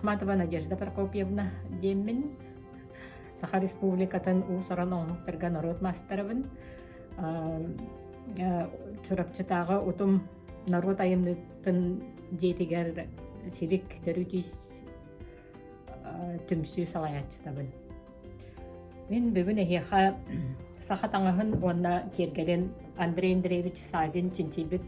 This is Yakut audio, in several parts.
Ахматова Надежда Прокопьевна диэммин Саха Республикатын уусаран омуктарга норуот мастерабын Чурапчытааҕы утум норуот айымньытын дьиэтигэр силик төрүтүс түмсүү салайааччытабын. Мин бүгүн эһиэхэ саха таҥаһын уонна киэргэлин Андрей Андреевич Савин чинчийбит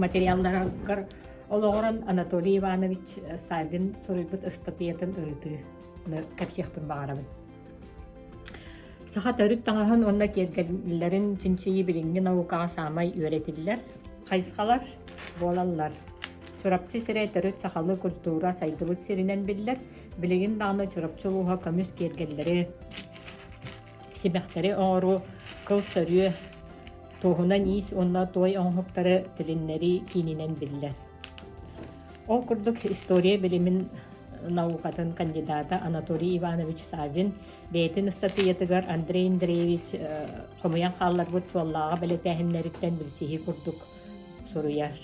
материалларыгар олоҕуран Анатолий Иванович Савин суруйбут ыстатыйатын ырытыы кэпсиэхпин баҕарабын. Саха төрүт таҥаһын уонна киэргэллэрин чинчийии билиҥҥи наукаҕа саамай үөрэтиллэр хайысхалар буолаллар. Чурапчы сирэ төрүт сахалыы культура сайдыбыт сиринэн биллэр. Билигин даҕаны Чурапчы улууһа көмүс киэргэллэри, сибэхтэри оҥоруу, кыл сөрүө, туоһунан иис уонна туой оҥоһуктары тилиннэрии киининэн биллэр. Ол курдук история билимин наукатын кандидата Анатолий Иванович Саввин бэйэтин ыстатыйатыгар Андрей Андреевич хомуйан хаалларбыт суоллааҕы бэлэтээһиннэриттэн билсиһии курдук суруйар.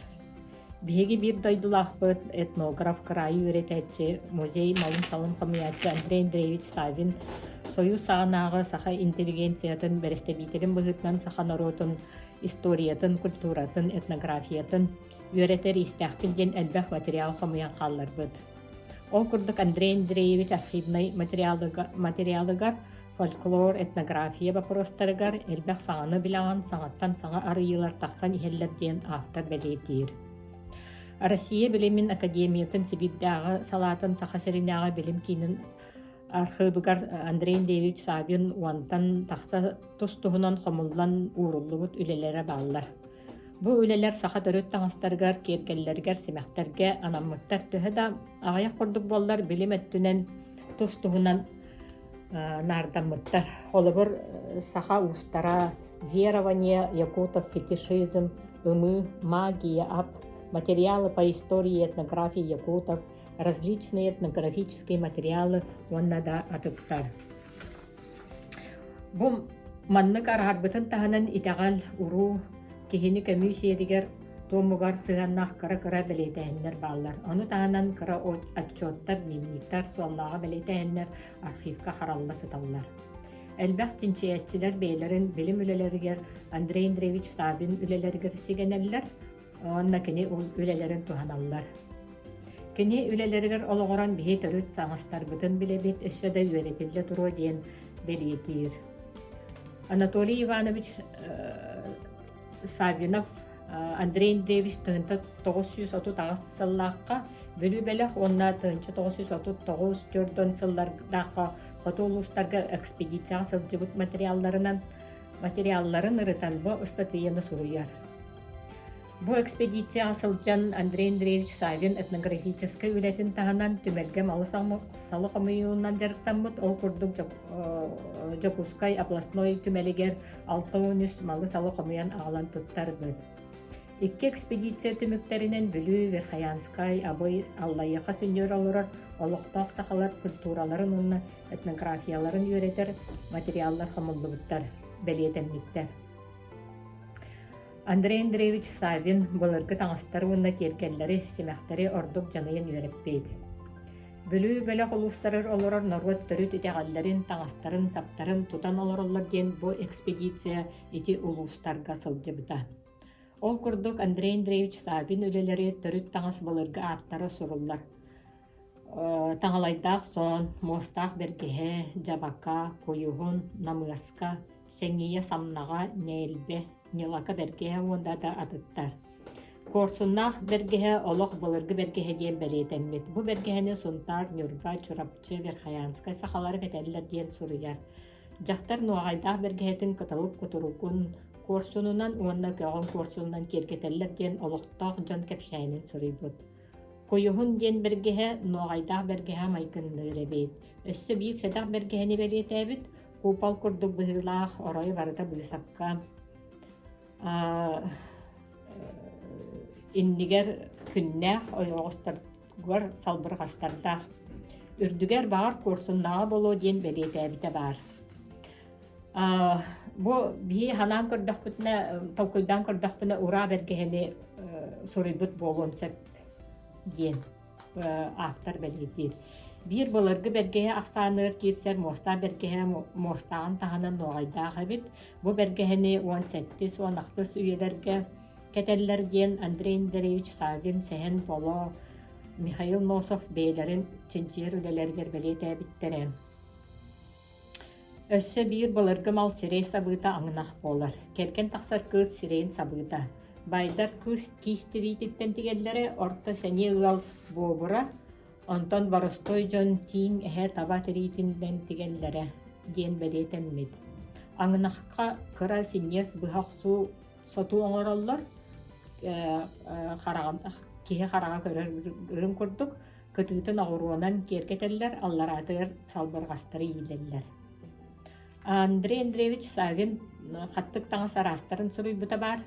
Биһиги биир дойдулаахпыт, этнограф, кыраайы үөрэтээччи, музей малын-салын хомуйааччы Андрей Андреевич Саввин сойуус саҕанааҕы саха интеллигенциятын бэрэстэбиитэлин быһыытынан саха норуотун историятын, культуратын, этнографиятын үөрэтэр иистээхпин диэн элбэх материал хомуйан хаалларбыт. Ол курдук Андрей Андреевич архивнай материалыгар, материалыгар фольклор, этнография бопуруостарыгар элбэх саҥаны билэҕин саҥаттан саҥа арыйыылар тахсан иһэллэр диэн автор бэлиэтиир. Россия билимин академиятын Сибирдээҕи салаатын Саха сиринээҕи билим киинин архыыбыгар Андрей Андреевич Савин уонтан тахса тус туһунан хомуллан ууруллубут үлэлэрэ бааллар. Бу үлэлэр саха төрүт таҥастарыгар, киэргэллэригэр, симэхтэргэ анаммыттар. Төһө да аҕыйах курдук буоллар, билим өттүнэн тус-туһунан наардаммыттар. Холобур, саха уустара верование, якутов фетишизм, ымы, магия, ап, материалы по истории и этнографии якутов, различные этнографические материалы уонна да атыттар. Бу маннык араарбытын таһынан итэҕэл, уруу киһини көмүү сиэригэр туомугар сыһыаннаах кыра-кыра бэлиэтээһиннэр бааллар. Ону таһынан кыра отчуоттар, дневниктар, суоллааҕы бэлиэтээһиннэр архивка харалла сыталлар. Элбэх чинчийээччилэр бэйэлэрин билим үлэлэригэр Андрей Андреевич Савин үлэлэригэр сигэнэллэр, уонна кини үлэлэрин туһаналлар. Кини үлэлэригэр олоҕуран биһи төрүт саҥастарбытын билэбит өссө да үөрэтиллэ туруо диэн бэлиэтиир. Анатолий Иванович Саввинов Андрей Андреевич тыһынта тоғыз жүз отут аҕыс сыллаахха Бүлүү бэлэх уонна тыһынча тоғыз жүз отут тоҕус төрдөн сыллардаахха хоту улуустарга экспедицияҕа сылдьыбыт материалларынан материалларын ырытан бу ыстатыйаны суруйар. Бу экспедицияҕа сылдьан Андрей Андреевич Савин этнографическай үлэтин таһынан түмэлгэм алыс салы хомуйуунан дьарыктаммыт, ол курдук Дьокуускай областной түмэлигэр алта уон үс малы-салы хомуйан аҕалан туттарбыт. Икки экспедиция түмүктэринэн Бүлүү, Верхоянскай, Абый, Аллайыха сүнньүөр олорор олохтоох сахалар культураларын уонна этнографияларын үөрэтэр материаллар хомуллубуттар, бэлиэтэммиттэр. Андрей Андреевич Савин былыргы таҥастары уонна тиэргэннэри, симэхтэри ордук дьаныйан үөрэппит. Бүлүү бөлөх улуустарыгар олорор норуот төрүт итэҕэллэрин, таҥастарын-саптарын тутан олороллор диэн бу экспедиция ити улуустарга сылдьыбыта. Ол курдук Андрей Андреевич Савин үлэлэри төрүт таҥас былыргы ааттара суруллар. Таҥалайдаах соон, муостаах бэргэһэ, дьабака, куйуһун, намыаска, Сэҥийэ самнаҕа, нээлбэ, Ньылака бэргэһэ уонна да атыттар. Куорсуннаах бэргэһэ олох былыргы бэргэһэ диэн бэлиэтэммит. Бу бэргэһэни Сунтаар, Ньурба, Чурапчы, Верхоянскай сахалары кэтэллэр диэн суруйар. Дьахтар нуоҕайдаах бэргэһэтин кыталык кутуругун куорсунунан уонна көҕөн куорсунунан киэргэтэллэр диэн олохтоох дьон кэпсээнин суруйбут. Куйуһун диэн бэргэһэ нуоҕайдаах бэргэһэ майгынныыр эбит. Өссө биир сэдэх бэргэһэни бэлиэтээбит куупал курдук быһыылаах оройу барыта быысапка иннигэр күннээх ойоҕосторгор салбырҕастардаах үрдүгэр баҕар куорсуннаҕа буолуо диэн бэлиэтээбитэ баар бу биһи ханаан көрдөхпүтүнэ толкуйдаан көрдөхпүнэ ураа бэргэһэни суруйбут буолуон сөп диэн ааптар бэлиэтиир. Биир былыргы бэргэһэ ахсааныгар киирсэр муостаах бэргэһэ муостааҕын таһынан нуоҕайдаах эбит. Бу бэргэһэни уон сэттис уон ахсыс үйэлэргэ кэтэллэр диэн Андрей Андреевич Саввин Сэһэн Поло, Михаил Носов бэйэлэрин чинчийэр үлэлэригэр бэлиэтээбиттэрэ. Өссө биир былыргы мал сирэй сабыыта аҥынах буолар. Кэргэн тахсар кыыс сирэйин сабыыта. Байдар кыыс киис тириититтэн тигэллэрэ, орто сэниэ ыал буобура, онтон боростуой дьон тииҥ эһэ таба тириитинэн тигэллэрэ диэн бэлиэтэммит. Аҥынахха кыра синньиэс быһа охсуу сотуу оҥороллор, киһи хараҕа көрөр курдук, кытыытын оҕуруонан киэргэтэллэр, аллараатыгар салбырҕастары иилэллэр. Андрей Андреевич Савин хаттык таҥас араастарын суруйбута баар.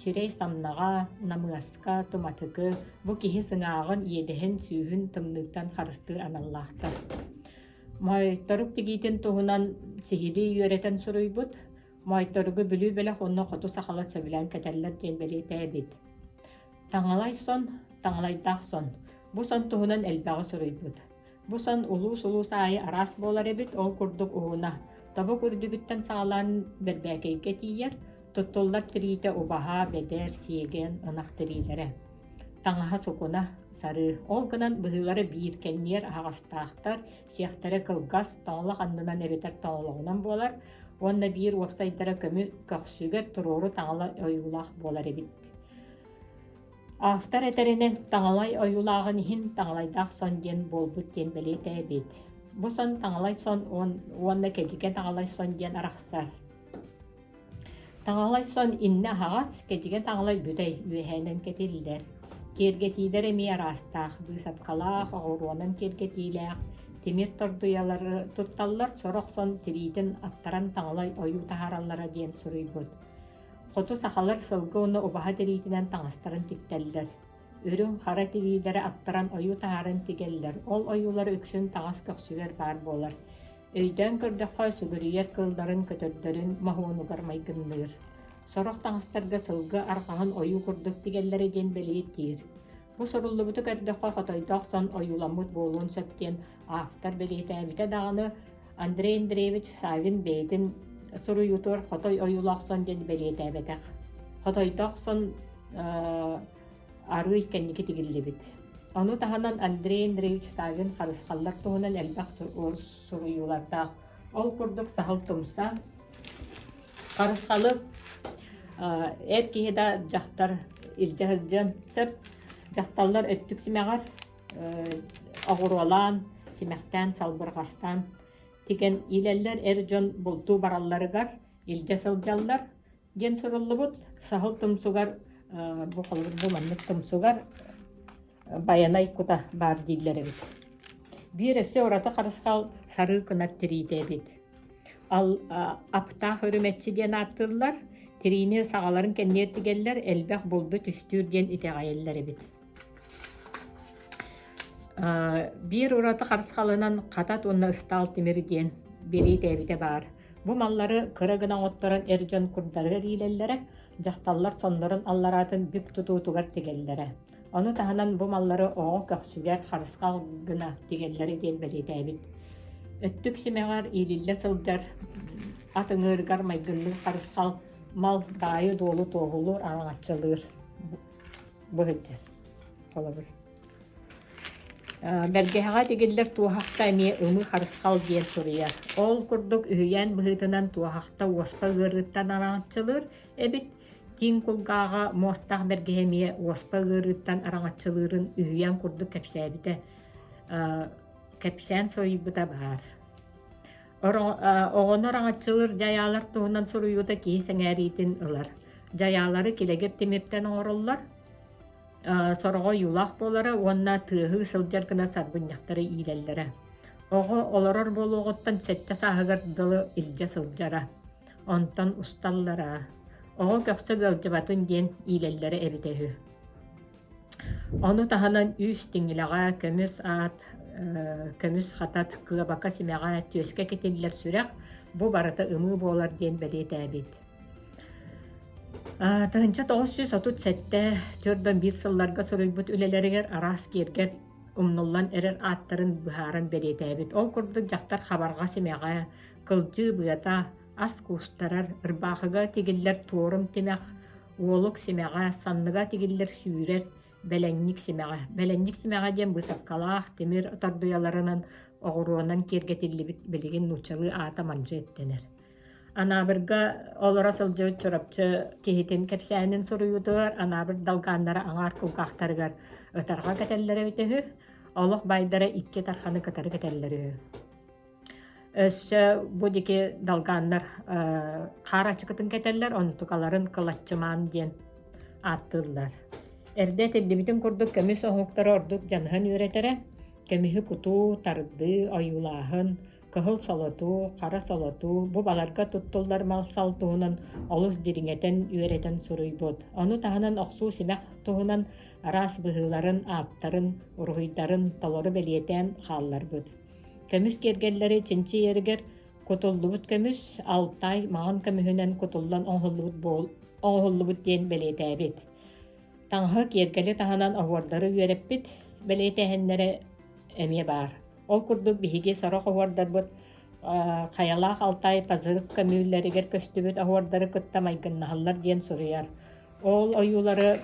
Сирэй-самнаҕа, намыаска, туматыгы, бу киһи сыҥааҕын, иэдэһин, сүүһүн тымныыттан харыстыы аналлаахтар. Моойторук тигиитин туһунан сиһилии үөрэтэн суруйбут. Моойторугу Бүлүү бөлөх уонна хоту сахалар сөбүлээн кэтэллэр диэн бэлиэтээбит. Таҥалай сон, таҥалайдаах сон. Бу сон туһунан элбэҕи суруйбут. Бу сон улуус-улуус аайы араас буолар эбит, ол курдук уһуна. Тобук үрдүгүттэн саҕалаан бэрбээкэйгэ тиийэр, туттуллар тириитэ убаһа, бэдэр, сиэгэн, ынах тириилэрэ. Таҥаһа сукуна, сарыы. Ол гынан быһыылара биир кэнниэр аһаҕастаахтар, сиэхтэрэ кылгас, тоҥлох аннынан эбэтэр тоҥлоҕунан буолар уонна биир уопсайдара көмү көхсүгэр туруору таҥала ойуулаах буолар эбит. Автор этэринэн, Таҥалай ойуулааҕын иһин Таҥалайдаах сон диэн буолбут диэн бэлиэтээбит. Бу сон Таҥалай сон уонна Кэдьикэ Таҥалай сон диэн арахсар. Таҥалай сон иннэ аһаҕас, Кэдьикэ Таҥалай бүтэй үөһээнэн кэтиллэр. Киэргэтиилэр эмиэ араастаах, быысапкалаах, оҕуруонан киэргэтиилээх, тимир тордуйалары тутталлар, сорох сон тириитин аттаран Таҥалай ойуу таһаараллара диэн суруйбут. Хоту сахалар сылгы уну убаһа тириитинэн таҥастарын тиктэллэр. Үрүҥ, хара тириилэри аттаран ойуу таҥарын тигэллэр. Ол ойуулар үксүн таҥас көхсүгэр баар буолар. Өйдөөн көрдөххө, сүгүрүйэр кылларын көтөрдөрүн моһуонугар майгынныыр. Сорох таҥастарга сылгы арҕаһын ойуу курдук тигэллэрэ диэн бэлиэтиир. Бу суруллубуту көрдөххө, хотойдоох сон ойууламмыт буолуон сөп диэн автор бэлиэтээбитэ даҕаны, Андрей Андреевич Савин бэйэтин суруйуутугар Хотой ойуулаах сон диэн бэлиэтээбэтэх. Хотойдох сон арыый кэнники тигиллибит. Ону таһынан Андрей Андреевич Савин харысхаллар туһунан элбэх суруйуулардаах. Ол курдук сахал тумса, харысхалы эр киһи да дьахтар илдьэ сылдьан сөп, дьахталлар өттүк симэҕэр, оҕуруолаан, симэхтээн, салбырҕастаан тигэн иилэллэр, эр дьон бултуу баралларыгар илдьэ сылдьаллар диэн суруллубут. Саһыл тумсугар бу холобур бу маннык тумсугар байанай кута баар дииллэр эбит. Биир өссө ураты харысхал сарыы кынат тириитэ эбит. Аптаах үрүмэччи диэн ааттыыллар. Тириини саҕаларын кэнниэр тигэллэр, элбэх булду түстүүр диэн итэҕэйэллэр эбит. Биир ураты харысхалынан хатат уонна ыстаал тимир диэн билиитээбитэ баар. Бу маллары кыра гына оҥотторон эр дьон курдары эриилэллэрэ, дьахталлар соннорун аллараатын бүк тутуутугар тигэллэрэ. Ону таһынан бу маллары оҕо көхсүгэр харысхал гына тигэллэрэ диэн бэлиэтээбит. Өттүк симэҕэр иилиллэ сылдьар ат ыҥыырыгар майгынныыр харысхал мал даайы-дуолу туоһулуур, араҥаччылыыр. Бу сылдьар. Холобур. Бэргэһэҕэ тигиллэр туоһахта эмиэ ымы харысхал диэн суруйар. Ол курдук үһүйээн быһыытынан туоһахта уоспа ыарыыттан араҥаччылыыр эбит. Тиин кулгааҕа муостах бэргэһэ эмиэ уоспа ыарыыттан араҥаччылыырын үһүйээн курдук кэпсээбитэ кэпсээн суруйбута баар. оҕону араҥаччылыыр дьайаалар туһунан суруйуута киһи сэҥээриитин ылар. Дьайаалары килэгир тимиртэн оҥороллор, сороҕо ойуулаах буолара уонна тыаһыы сылдьар гына сарбынньахтары иилэллэрэ. Оҕо олорор буолуоҕуттан сэттэ сааһыгар дылы илдьэ сылдьара. Онтон усталлара. Оҕо көхсө ыалдьыбатын диэн иилэллэрэ эбитэ үһү. Ону таһынан үс тиҥилэҕэ көмүс аат, көмүс хатат, кыабака симэҕэ, түөскэ кэтиллэр сүрэх, бу барыта ымыы буолар диэн бэлиэтээбит. Тыһыынча тоҕус сүүс отут сэттэ төрдөн биир сылларга суруйбут үлэлэригэр араас киэргэл умнуллан эрэр ааттарын быһааран бэлиэтээбит. Ол курдук дьахтар хабарҕа симэҕэ, кылдьыы быата, ас куустарар, ырбаахыга тигиллэр туорум тимэх, Уолук симэҕэ, санныга тигиллэр сүүрэр, бэлэнньик симэҕэ. Бэлэнньик симэҕэ диэн быысапкалаах тимир тордуйаларынан оҕуруонан киэргэтиллибит билигин нууччалыы аата мандьы эттэнэр. Анаабырга олоро сылдьыбыт Чурапчы киһитин кэпсээнин суруйуутугар Анаабыр далгааннара аҥаар кулгаахтарыгар ытарҕа кэтэллэрэ үтү, олох байдара икки тарханы кытары кэтэллэрэ үһү Өссө бу диэки далгааннар хаар ачыкытын кэтэллэр, онтукаларын кылаччымаан диэн ааттыыллар. Эрдэ этиллибитин курдук көмүс оһуоктара ордук дьаныһан үөрэтэрэ. Көмүһү кутуу, тардыы, ойуулааһын, кыһыл солотуу, хара солотуу бу баларга туттуллар мал-сал туһунан олус дириҥэтэн үөрэтэн суруйбут. Ону таһынан охсуу симэх туһунан араас быһыыларын, ааттарын, уруһуйдарын толору бэлиэтээн хаалларбыт. Көмүс киэргэллэри чинчийэригэр кутуллубут көмүс, Алтай маҕан көмүһүнэн кутуллан оҥоһуллубут оҥоһуллубут диэн бэлиэтээбит. Таҥаһы киэргэли таһынан оһуордары үөрэппит бэлиэтээһиннэрэ эмиэ баар. Ол курдук биһиги сорох оһуордарбыт Хайалаах Алтай Пазырык көмүүллэригэр көстүбүт оһуордары кытта майгыннаһаллар диэн суруйар. Ол ойуулары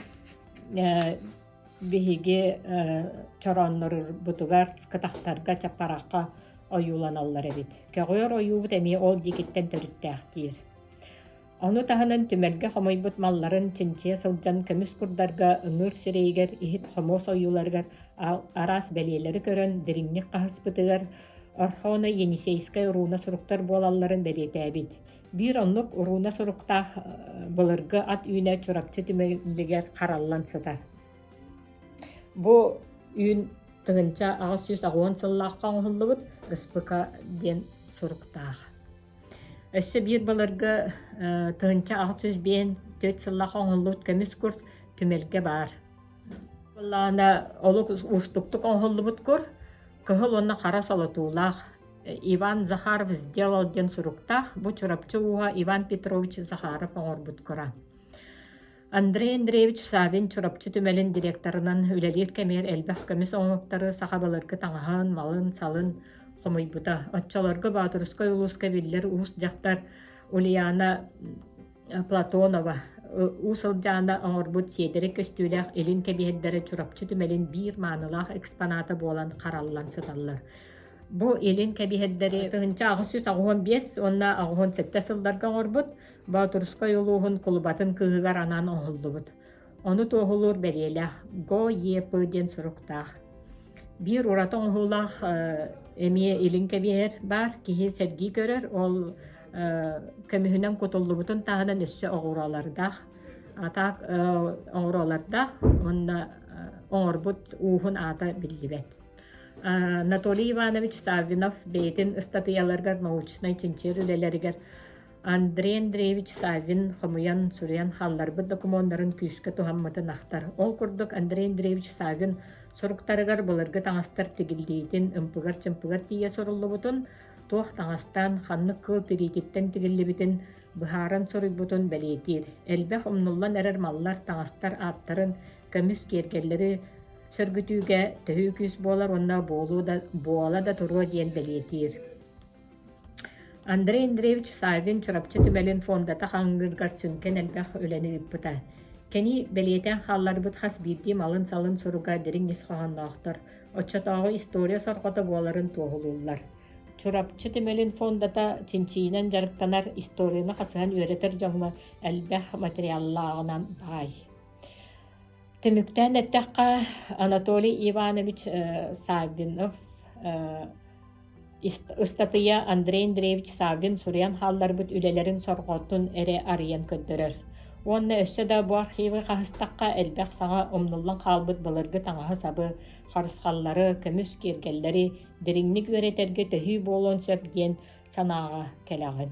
Биһиги чорооннорурбутугар кытахтарга чаппарахха ойууланаллар эбит. Көҕүөр ойуубут эмиэ ол диикиттэн төрүттээхтиир. Ону таһынан түмэлгэ хомойбут малларын чинчийэ сылдьан көмүс курдарга ыҥыыр сирэйигэр, иһит хомуос ойууларыгар араас бэлиэлэри көрөн дириҥник хаһыспытыгар Орхоно Енисейскай руна суруктар буолалларын бэлиэтээбит. Биир оннук урууна суруктаах былыргы ат үүнэ Чурапчы түмэлигэр хараллан сытар. Бу үүн тыгынча аҕыс сүүс аҕыан сыллаахха оҥоһуллубут Ыспыка диэн суруктаах. Өссө биир былыргы тыгынча аҕыс сүүс биэһин төрт сыллаах оҥоһуллубут көмүс кур түмэлгэ баар. Былаана олук уустуктук оҥоһуллубут кур кыһыл уонна хара солотуулаах Иван Захаров сделал диэн суруктаах бу Чурапчы ууһа Иван Петрович Захаров оҥорбут кура. Андрей Андреевич Савин Чурапчы түмэлин директорынан үлэлиир кэмигэр элбэх көмүс оҥоһуктары саха балыргы таҥаһын, малын, салын хомуйбута. Оччолорго Боотурускай улууска биллэр уус дьахтар Ульяна Платонова уу сылдьаана оҥорбут сиэдэрэй көстүүлээх илин кэбиһэрдэрэ Чурапчы түмэлин биир маанылаах экспоната буолан хараллан сыталлар. Бу илин кэбиһэрдэри тыһыынча аҕыс сүүс аҕыһын биэс уонна аҕыһын сэттэ сылларга оҥорбут Боотурскай улууһун кулубатын кыыһыгар анаан оҥоһуллубут Ону туоһулуур бэлиэлээх «Го-Е-П» диэн суруктаах. Биир ураты оҥоһуулаах эмиэ илин кэбиһэр баар, киһи сэргии көрөр, ол көмүһүнэн кутуллубутун таһынан өссө оҕуруолардаах, атаак оҕуруолардаах уонна оҥорбут ууһун аата биллибэт. Анатолий Иванович Саввинов бэйэтин ыстатыйаларыгар научнай-чинчийэр үлэлэригэр Андрей Андреевич Саввин хомуйан, суруйан хаалларбыт докумуоннарын күүскэ туһаммытын ахтар. Ол курдук Андрей Андреевич Саввин суруктарыгар былыргы таҥастар тигиллиитин, ымпыгар-чымпыгар тиийэ суруллубутун, туох таҥастаан, ханнык кыыл тириититтэн тигиллибитин быһааран суруйбутун бэлиэтиир. Элбэх умнуллан эрэр маллар, таҥастар ааттарын, көмүс киэргэллэри сөргүтүүгэ төһүү күүс буолар уонна буола да туруо диэн бэлиэтиир. Андрей Андреевич Саагын Чурапчы түмэлин фондата хаҥыыргар сүҥкэн элбэх үлэни ыыппыта. Кини бэлиэтээн хаалларбыт хас биирдии малын-салын суруга дириҥ ис хоһоонноохтор, оччотооҕу история сорҕото буоларын туоһулууллар. Чурапчы түмэлин фондата чинчийинэн дьарыктанар, историяны хасыһан үөрэтэр дьоҥҥо элбэх материаллааҕынан баай. Түмүктээн эттэххэ, Анатолий Иванович Саагынов Ыстатыйа Андрей Андреевич Саввин суруйан хаалларбыт үлэлэрин сорҕотун эрэ арыйан көрдөрөр уонна өссө да бу архивы хаһыстахха элбэх саҥа умнуллан хаалбыт былыргы таҥаһы-сабы, харысхаллары, көмүс киэргэллэри дириҥник үөрэтэргэ төһүү буолуон сөп диэн санааҕа кэлэҕин.